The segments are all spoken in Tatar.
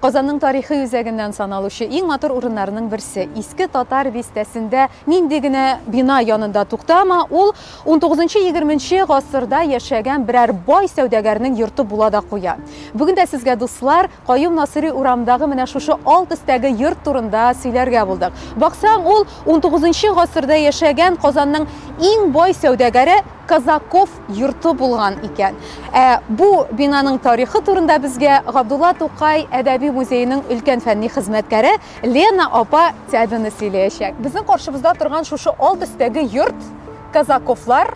Казанның тарихи үзәгеннән саналучы иң матур урыннарының берсе, Иске Татар бистәсендә нинди генә бина янында туктама, ул унтугызынчы-егерменче гасырда яшәгән берәр бай сәүдәгәрнең йорты була да куя. Бүген дә сезгә, дуслар, Каюм Насыйри урамындагы менә шушы алт өстәге йорт турында сөйләргә булдык. Баксаң, ул унтугызынчы гасырда яшәгән Казанның иң бай сәүдәгәре, Казаков йорты булган икән. Ә бу бинаның тарихы турында безгә Габдулла Тукай әдәби музееның өлкән фәнни хезмәткәре Лена апа Тябина сөйләячәк. Безнең каршыбызда торган шушы алт өстәге йорт Казаковлар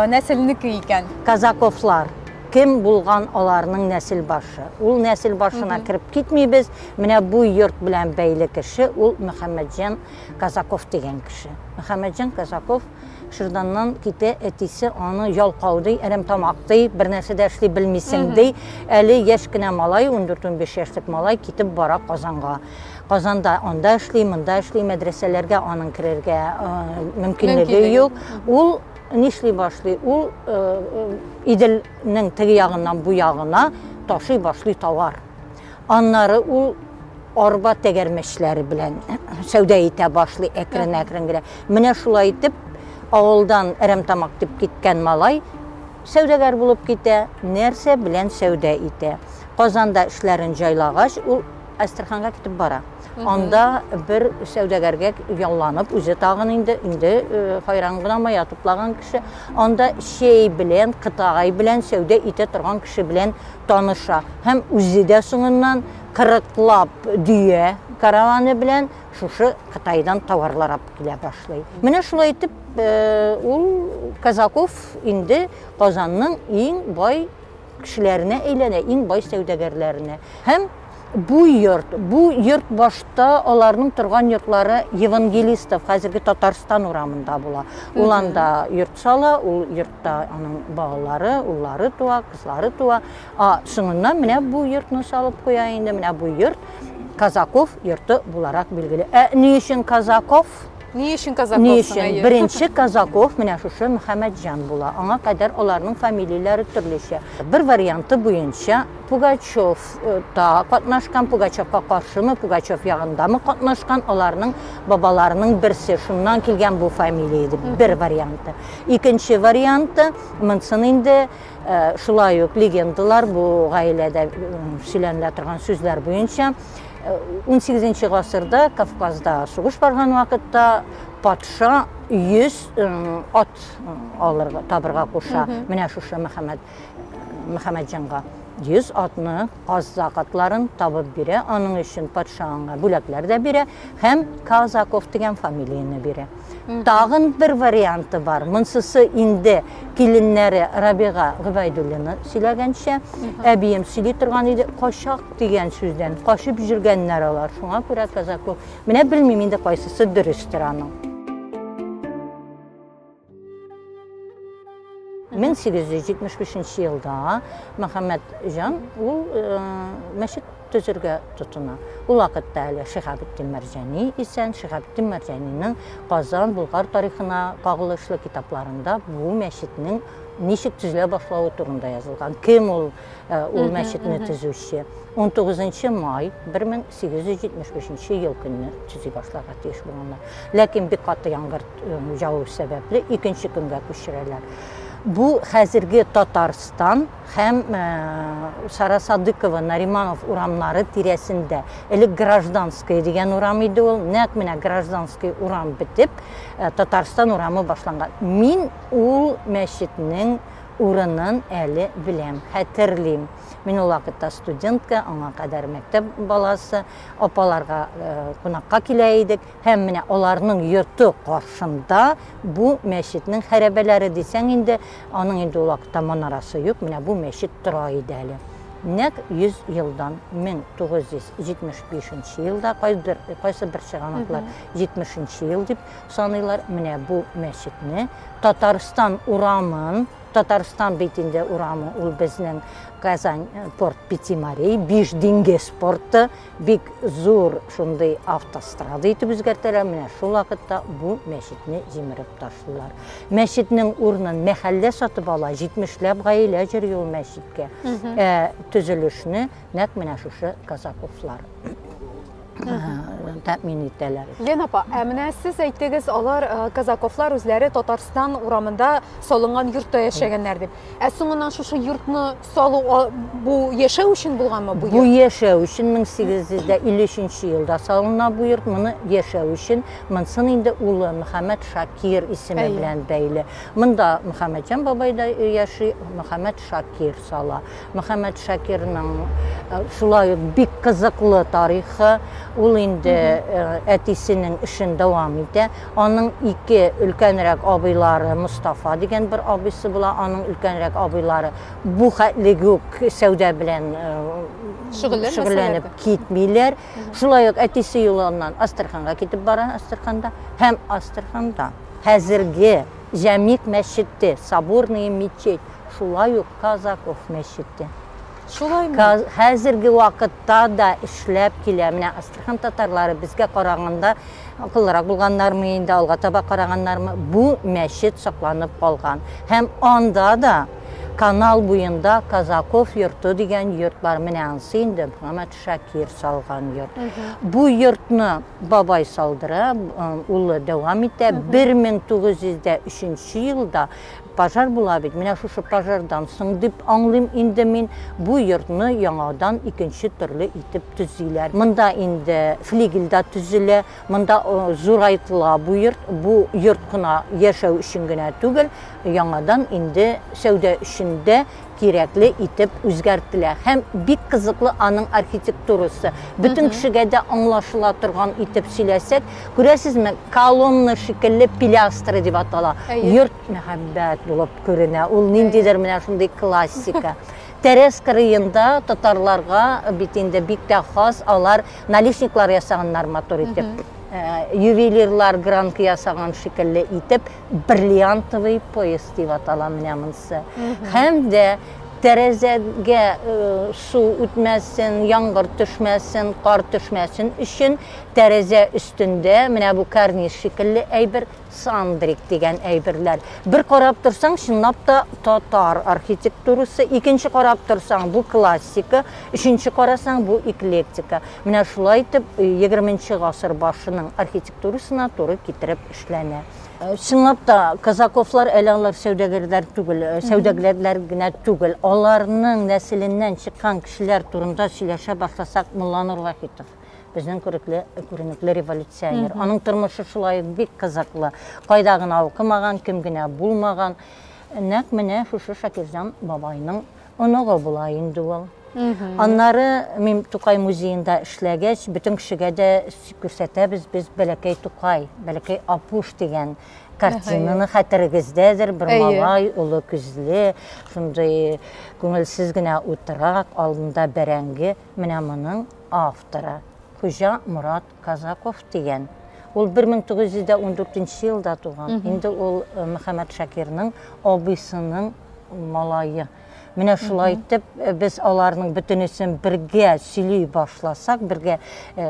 нәселенеке икән. Казаковлар, кем булган аларның нәсел башы? Ул нәсел башына кереп китмибез, менә бу йорт белән бәйле кеше, ул Мөхәммәтҗан Казаков дигән кеше. Мөхәммәтҗан Казаков Шырданнан китә әтисе аны ялкау ди, әрәмтамак ди, бер нәрсә дә эшли белмисең ди. Әле яшь кенә малай, 14-15 яшьлек малай китеп бара Казанга. Казанда анда эшли, монда эшли, мәдрәсәләргә аның керергә мөмкинлеге юк. Ул нишли башлый? Ул Иделнең теге ягыннан бу ягына ташый башлый товар. Аннары ул арба тәгәрмәчләре белән сәүдә итә башлый әкрен-әкрен генә. Менә шулай итеп, авылдан Әрәмтамак дип киткән малай сәүдәгәр булып китә, нәрсә белән сәүдә итә. Казанда эшләрен җайлагач, ул Әстерханга китеп бара. Анда бер сәүдәгәргә ялланып, үзе тагын инде инде хайран гына мая туплаган кеше, анда чәй белән, кытагай белән сәүдә итә торган кеше белән таныша. Һәм үзе дә соңыннан кырыклап дөя караваны белән шушы Кытайдан товарлар алып килә башлый. Менә шулай итеп э, ул Казаков инде Казанның иң бай кешеләренә әйләнә, иң бай сәүдәгәрләренә. Һәм Бу йорт, бу йорт башта аларның торган йортлары Евангелистов, хәзерге Татарстан урамында була. Ул анда йорт сала, ул йортта аның балалары, уллары туа, кызлары туа. А соңыннан менә бу йортны салып куя инде. Менә бу йорт Казаков йорты буларак билгеле. Ә ни өчен Казаков? Ни өчен Казаков? Ни өчен? Беренче Казаков менә шушы Мөхәммәтҗан була. Аңа кадәр аларның фамилияләре төрлечә. Бер варианты буенча Пугачев э, та катнашкан, Пугачевка каршымы, Пугачев ягындамы катнашкан, аларның бабаларының берсе, шуннан килгән бу фамилия дип бер варианты. Икенче варианты, монсын инде э, шулай ук легендалар бу гаиләдә э, сөйләнелә торган сүзләр буенча 18 гасырда Кавказда сугыш барган вакытта патша 100 ат алырга табырга куша. Менә шушы Мөхәммәд Мөхәммәдҗанга 100 атны, аз закатларын табып бирә. Аның өчен патша аңа бүләкләр дә бирә һәм Казаков дигән фамилияне бирә. Тагын бер варианты бар. Монсысы инде киленнәре Рабига Гөбәйдуллина сөйләгәнчә, әбием сөйли торган иде, качак дигән сүздән качып җөргәннәр алар. Шуңа күрә казаклык. Менә белмим инде кайсысы дөрестер аның. 1875 нче елда Мөхәммәт җан ул э, мәчет төзергә тотына. Ул вакытта әле Шиһабетдин Мәрҗани исән, Шиһабетдин Мәрҗанинең Казан, Булгар тарихына кагылышлы китапларында бу мәчетнең ничек төзелә башлавы турында язылган. Кем ул э, ул мәчетне төзүче? 19 май 1875 ел көнне төзи башларга тиеш булганнар. Ләкин бик каты яңгыр Җаву сәбәпле икенче көнгә күчерәләр. Бу хәзерге Татарстан һәм Сара Садыкова, Нариманов урамнары тирәсендә. Элек Гражданская дигән урам иде ул. Нәкъ менә Гражданский урам бетеп, Татарстан урамы башланган. Мин ул мәчетнең урынын әле беләм, хәтерлим. Мин ул вакытта студентка, аңа кадәр мәктәп баласы, апаларга кунакка килә идек. Һәм менә аларның йорты каршында бу мәчетнең хәрәбәләре дисәң инде, аның инде ул вакытта манарасы юк, менә бу мәчет тора иде әле. Нәк 100 елдан 1975 елда кайбер кайсы бер чыганаклар 70 ел дип саныйлар. Менә бу мәчетне Татарстан урамын Татарстан бит инде урамы ул безнең Казань э, порт Пятимарей, Биш диңгез порты Бик зур шундый автострада итеп үзгәртәләр, менә шул вакытта бу мәчетне җимереп ташлыйлар. Мәчетнең урынын мәхәллә сатып ала, 70ләп гаилә йөри ул мәчеткә. Ә төзелешне нәкъ менә шушы казаковлар тәэмин итәләр. Лена апа, ә менә сез әйттегез, алар казаковлар үзләре Татарстан урамында салынган йортта яшәгәннәр дип. Ә соңыннан шушы йортны Салу бу яшәү өчен булганмы бу йорт? Бу яшәү өчен 1853 елда салына бу йорт. Моны яшәү өчен, монсын инде улы Мөхәммәд Шакир исеме белән бәйле. Монда Мөхәммәдҗан бабай да яши, Мөхәммәд Шакир сала. Мөхәммәд Шакирның э, шулай ук бик кызыклы тарихы. Ул инде э, әтисенең эшен дәвам итә. Аның ике өлкәнрәк абыйлары, Мостафа дигән бер абыйсы була, аның өлкәнрәк абыйлары бу хәтле үк сәүдә белән шөгыльләнеп китмиләр. Шулай ук әтисе Юланнан Астраханга китеп бара, Астраханда һәм Астраханда хәзерге Җәмигъ мәчете, Соборная мечеть, шулай ук Казаков мәчете. Шулаймы? Каз- Хәзерге вакытта да эшләп килә. Менә Астрахан татарлары безгә караганда акыллырак булганнармы инде, алга таба караганнармы? Бу мәчет сакланып калган. Һәм анда да канал буенда Казаков йорты дигән йорт бар. Менә ансы инде Мөхәммәд Шакир салган йорт. Бу йортны бабай салдыра, э, улы дәвам итә. 1903 елда Пожар була бит, менә шушы пожардан соң дип аңлыйм инде мин, бу йортны яңадан икенче төрле итеп төзиләр. Монда инде флигель дә төзелә, монда зурайтыла бу йорт, бу йорт кына яшәү өчен генә түгел, яңадан инде сәүдә өчен дә кирәкле итеп үзгәртелә һәм бик кызыклы аның архитектурасы. Бөтен кешегә дә аңлашыла торган итеп сөйләсәк, күрәсезме, колонна шикелле пилястра дип атала. Йорт мәхәббәт булып күренә. Ул ниндидер менә шундый классика. Тәрәз кырыенда татарларга бит инде бик тә хас, алар наличниклар ясаганнар матур итеп. Э, ювелирлар гранка ясаган шикелле итеп бриллиантовый поезд дип атала менә монысы һәм дә тәрәзәгә су үтмәсен яңгыр төшмәсен кар төшмәсен өчен тәрәзә өстендә менә бу карниз шикелле әйбер сандрик дигән әйберләр бер карап торсаң чынлап та татар архитектурасы икенче карап торсаң бу классика өченче карасаң бу эклектика менә шулай итеп егерменче гасыр башының архитектура Турысына туры китереп эшләнә. Чынлап та, казаковлар әле алар сәүдәгәрләр түгел, сәүдәгәрләр генә түгел. Аларның нәселеннән чыккан кешеләр турында сөйләшә башласак, Мулланур Вахитов, безнең күрекле, күренекле революционер. Аның тормышы шулай ук бик кызыклы. Кайда гына укымаган, кем генә булмаган, нәкъ менә шушы Шакирҗан бабайның Оныгы була инде ул. Аннары мин Тукай музеенда эшләгәч, бөтен кешегә дә күрсәтәбез без Бәләкәй Тукай, Бәләкәй Апуш дигән картинаны хәтерегездәдер, бер малай, олы күзле, шундый күңелсез генә утыра, алдында бәрәңге, менә моның авторы Хуҗа Мурат Казаков дигән. Ул 1914 елда туган. Инде ул э, Мөхәммәд Шакирның абыйсының малайы. Менә шулай итеп э, без аларның бөтенесен бергә сөйли башласак, бергә э,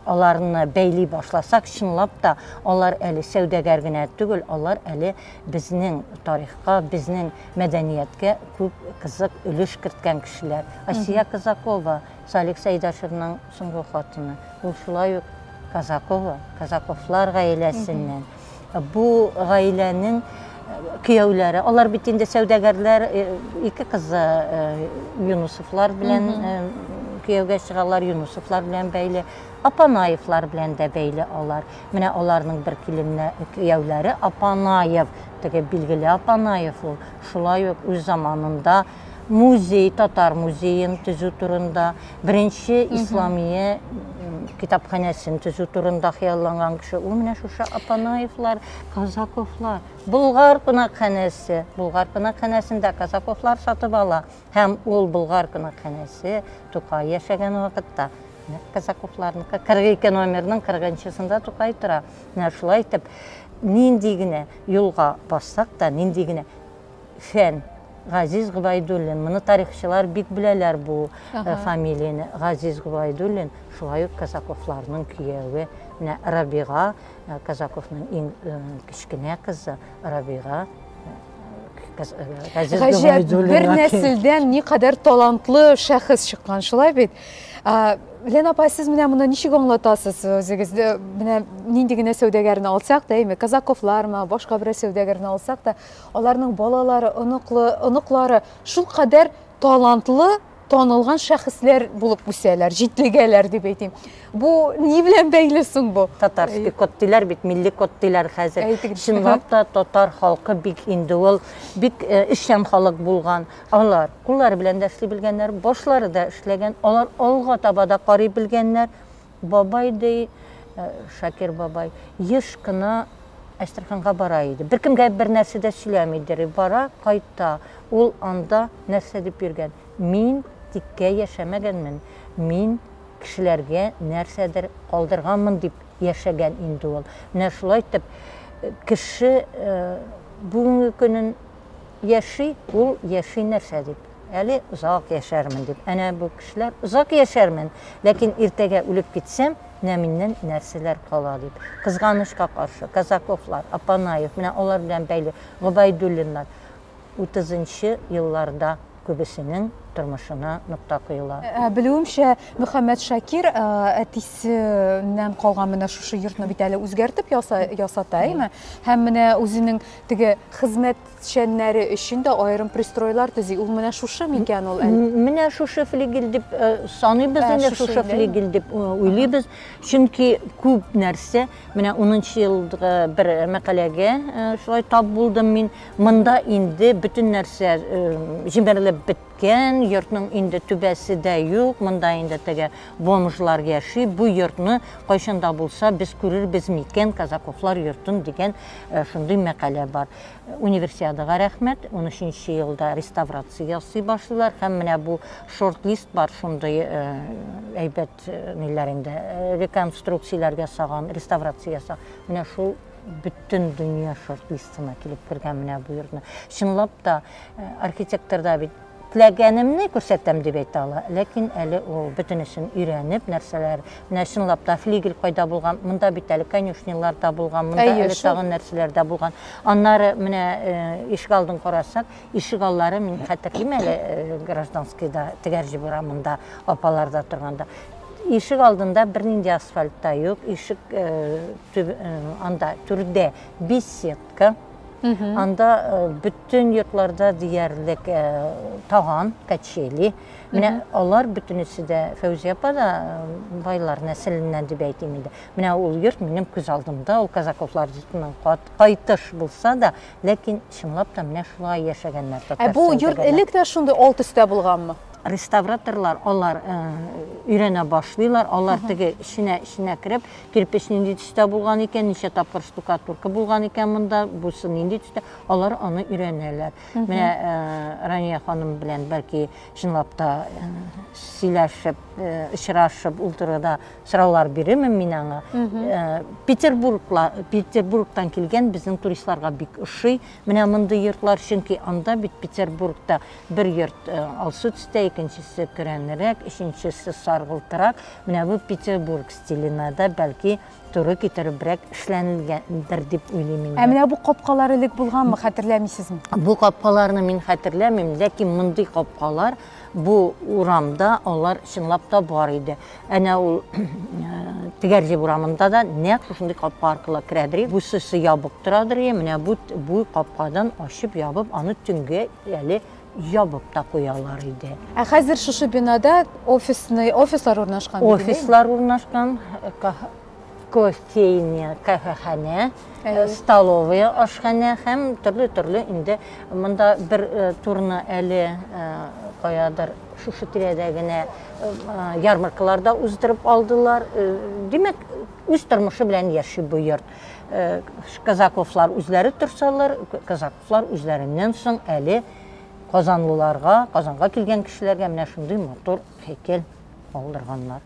аларны бәйли башласак, чынлап та алар әле сәүдәгәр генә түгел, алар әле безнең тарихка, безнең мәдәнияткә күп кызык өлеш керткән кешеләр. Асия Казакова, Салих Сәйдәшевның Соңгы хатыны, ул шулай ук Казакова, Казаковлар гаиләсеннән. Бу гаиләнең кияүләре, алар бит инде сәүдәгәрләр, ике кызы Юнусовлар белән кияүгә чыгалар, Юнусовлар белән бәйле, Апанаевлар белән дә бәйле алар. Менә аларның бер киленнә кияүләре Апанаев, теге билгеле Апанаев ул, шулай ук үз заманында музей, татар музеен төзү турында, беренче исламия китапханәсен төзү турында хыялланган кеше. Ул менә шушы Апанаевлар, Казаковлар. Болгар кунакханәсе. Болгар кунакханәсендә Казаковлар сатып ала. Һәм ул Болгар кунакханәсе Тукай яшәгән вакытта Казаковларныкы 42 номерның 40-сында Тукай тора. Менә шулай итеп, нинди генә юлга бассак та, нинди генә фән. Газиз Гобәйдуллин. Моны тарихчылар бик беләләр бу э, фамилияне. Газиз Гобәйдуллин, шулай ук Казаковларның кияве. Менә Рабига, э, Казаковның иң э, кечкенә кызы Рабига. Газиз Гаҗәп, бер нәселдән ни кадәр талантлы шәхес чыккан, шулай бит. Лена апа, сез менә моны ничек аңлатасыз үзегезне? Менә нинди генә сәүдәгәрне алсак та, әйме, казаковлармы, башка берәр сәүдәгәрне алсак та, Аларның балалары, оныклы, оныклары шулкадәр талантлы, танылган шәхесләр булып үсәләр, җитлегәләр дип әйтим. Бу ни белән бәйле соң бу? Татарский код диләр бит, милли код диләр хәзер. Чынлап та татар халкы бик инде ул бик э, эшчән халык булган. Алар куллары белән дә эшли белгәннәр, башлары да эшләгән, алар алга таба да карый белгәннәр. Бабай, ди, Шакир бабай, еш кына Әстерханга бара иде. Беркемгә бернәрсә дә сөйләми, ди, бара, кайта. Ул анда нәрсә дип йөргән? Мин тиккә яшәмәгәнмен, мин кешеләргә нәрсәдер калдырганмын дип яшәгән инде ул. Менә шулай итеп, кеше бүгенге көнен яши, ул яши нәрсә дип? Әле озак яшәрмен дип. Әнә бу кешеләр, озак яшәрмен, ләкин иртәгә үлеп китсәм, менә миннән нәрсәләр кала дип. Кызганычка каршы, Казаковлар, Апанаев, менә алар белән бәйле Гобәйдуллиннар утызынчы елларда күбесенең тормышына нокта куела. Ә, белүемчә, Мөхәммәт Шакир ә, әтисеннән калган менә шушы йортны бит әле үзгәртеп яса, ясата, әйме? Һәм менә үзенең теге хезмәт чәннәре өчен дә аерым пристройлар төзи. Ул менә шушы микән ул әле? Менә шушы флигель дип э, саныйбыз, ә, инде шушы флигель дип э, уйлыйбыз. Чөнки күп нәрсә, менә 10 елдагы бер мәкаләгә э, шулай тап булдым мин. Монда инде бөтен нәрсә җимерелеп бетте. Кән, йортның инде түбәсе дә юк, монда инде теге бомжлар яши, бу йортны кайчан да булса без күрербез микән, Казаковлар йортын, дигән шундый мәкалә бар. Универсиадага рәхмәт, унөченче елда реставрация ясый башлыйлар һәм менә бу шорт-лист бар, шундый әйбәт ниләр инде, реконструкцияләр ясаган, реставрация ясаган, менә шул бөтен дөнья шорт-листына килеп кергән менә бу йортны. Чынлап та, Архитектор да бит теләгәнемне күрсәтәм дип әйтә ала, ләкин әле ул бөтенесен өйрәнеп, нәрсәләр, менә чынлап та флигель кайда булган, монда бит әле конюшнялар да булган, монда Әйе, әле шул. тагын нәрсәләр дә булган. Аннары менә э, ишек алдын карасак, ишек аллары мин хәтерлим әле э, гражданскийда, Тегәрҗеб урамында, апаларда торганда. Ишек алдында бернинди асфальт та юк, ишек э, төб- э, анда түрдә бессет Ка. Анда э, бүтін йортларда диярлек э, таган, качели. Менә алар бүтінісі дә Фәүзия апа да э, байлар нәселеннән дип әйтим инде. Менә ул йорт минем күз алдымда, ул казаковлар йортының кайтыш булса да, ләкин чынлап та менә шулай яшәгәннәр. Ә бу йорт элек тә шундый алт өстә булганмы? реставраторлар алар э, өйрәнә башлыйлар алар теге эченә эченә кереп кирпеч нинди төстә булган икән, ничә тапкыр штукатурка булган икән монда, бусы нинди төстә, алар аны өйрәнәләр. Менә э, Рания ханым белән бәлки чынлап та э, сөйләшеп, э, очрашып ул турыда сораулар бирермен мин аңа. Петербургла, Петербургтан килгән безнең туристларга бик ошый. Менә мондый йортлар, чөнки анда бит Петербургта Бер йорт э, алсу төстә, икенчесе көрәнрәк, өченчесе саргылтырак. Менә бу Петербург стиленә дә бәлки туры китеребрәк эшләнелгәндер дип уйлыйм инде. Ә менә бу капкалар элек булганмы, хәтерләмисезме? Бу капкаларны мин хәтерләмим, ләкин мондый капкалар бу урамда алар чынлап та бар иде. Әнә ул Тегәрҗеп урамында да нәкъ шушындый капка аркылы керәдер и Бусы-се ябык торадыр и менә бу бу капкадан ачып-ябып, аны төнгә әле ябып та куялар иде. Ә хәзер шушы бинада офисный, офислар урнашкан бит инде? Офислар урнашкан. кофейня, кафеханә, э, столовая, ашханә һәм төрле-төрле инде монда бер э, турны әле э, каядыр шушы тирәдә генә ярмаркаларда уздырып алдылар. Димәк, үз тормышы белән яши бу йорт. Казаковлар үзләре торсалар, казаковлар үзләреннән соң әле казанлыларга, казанга килгән кешеләргә менә шундый матур һәйкәл алдырганнар.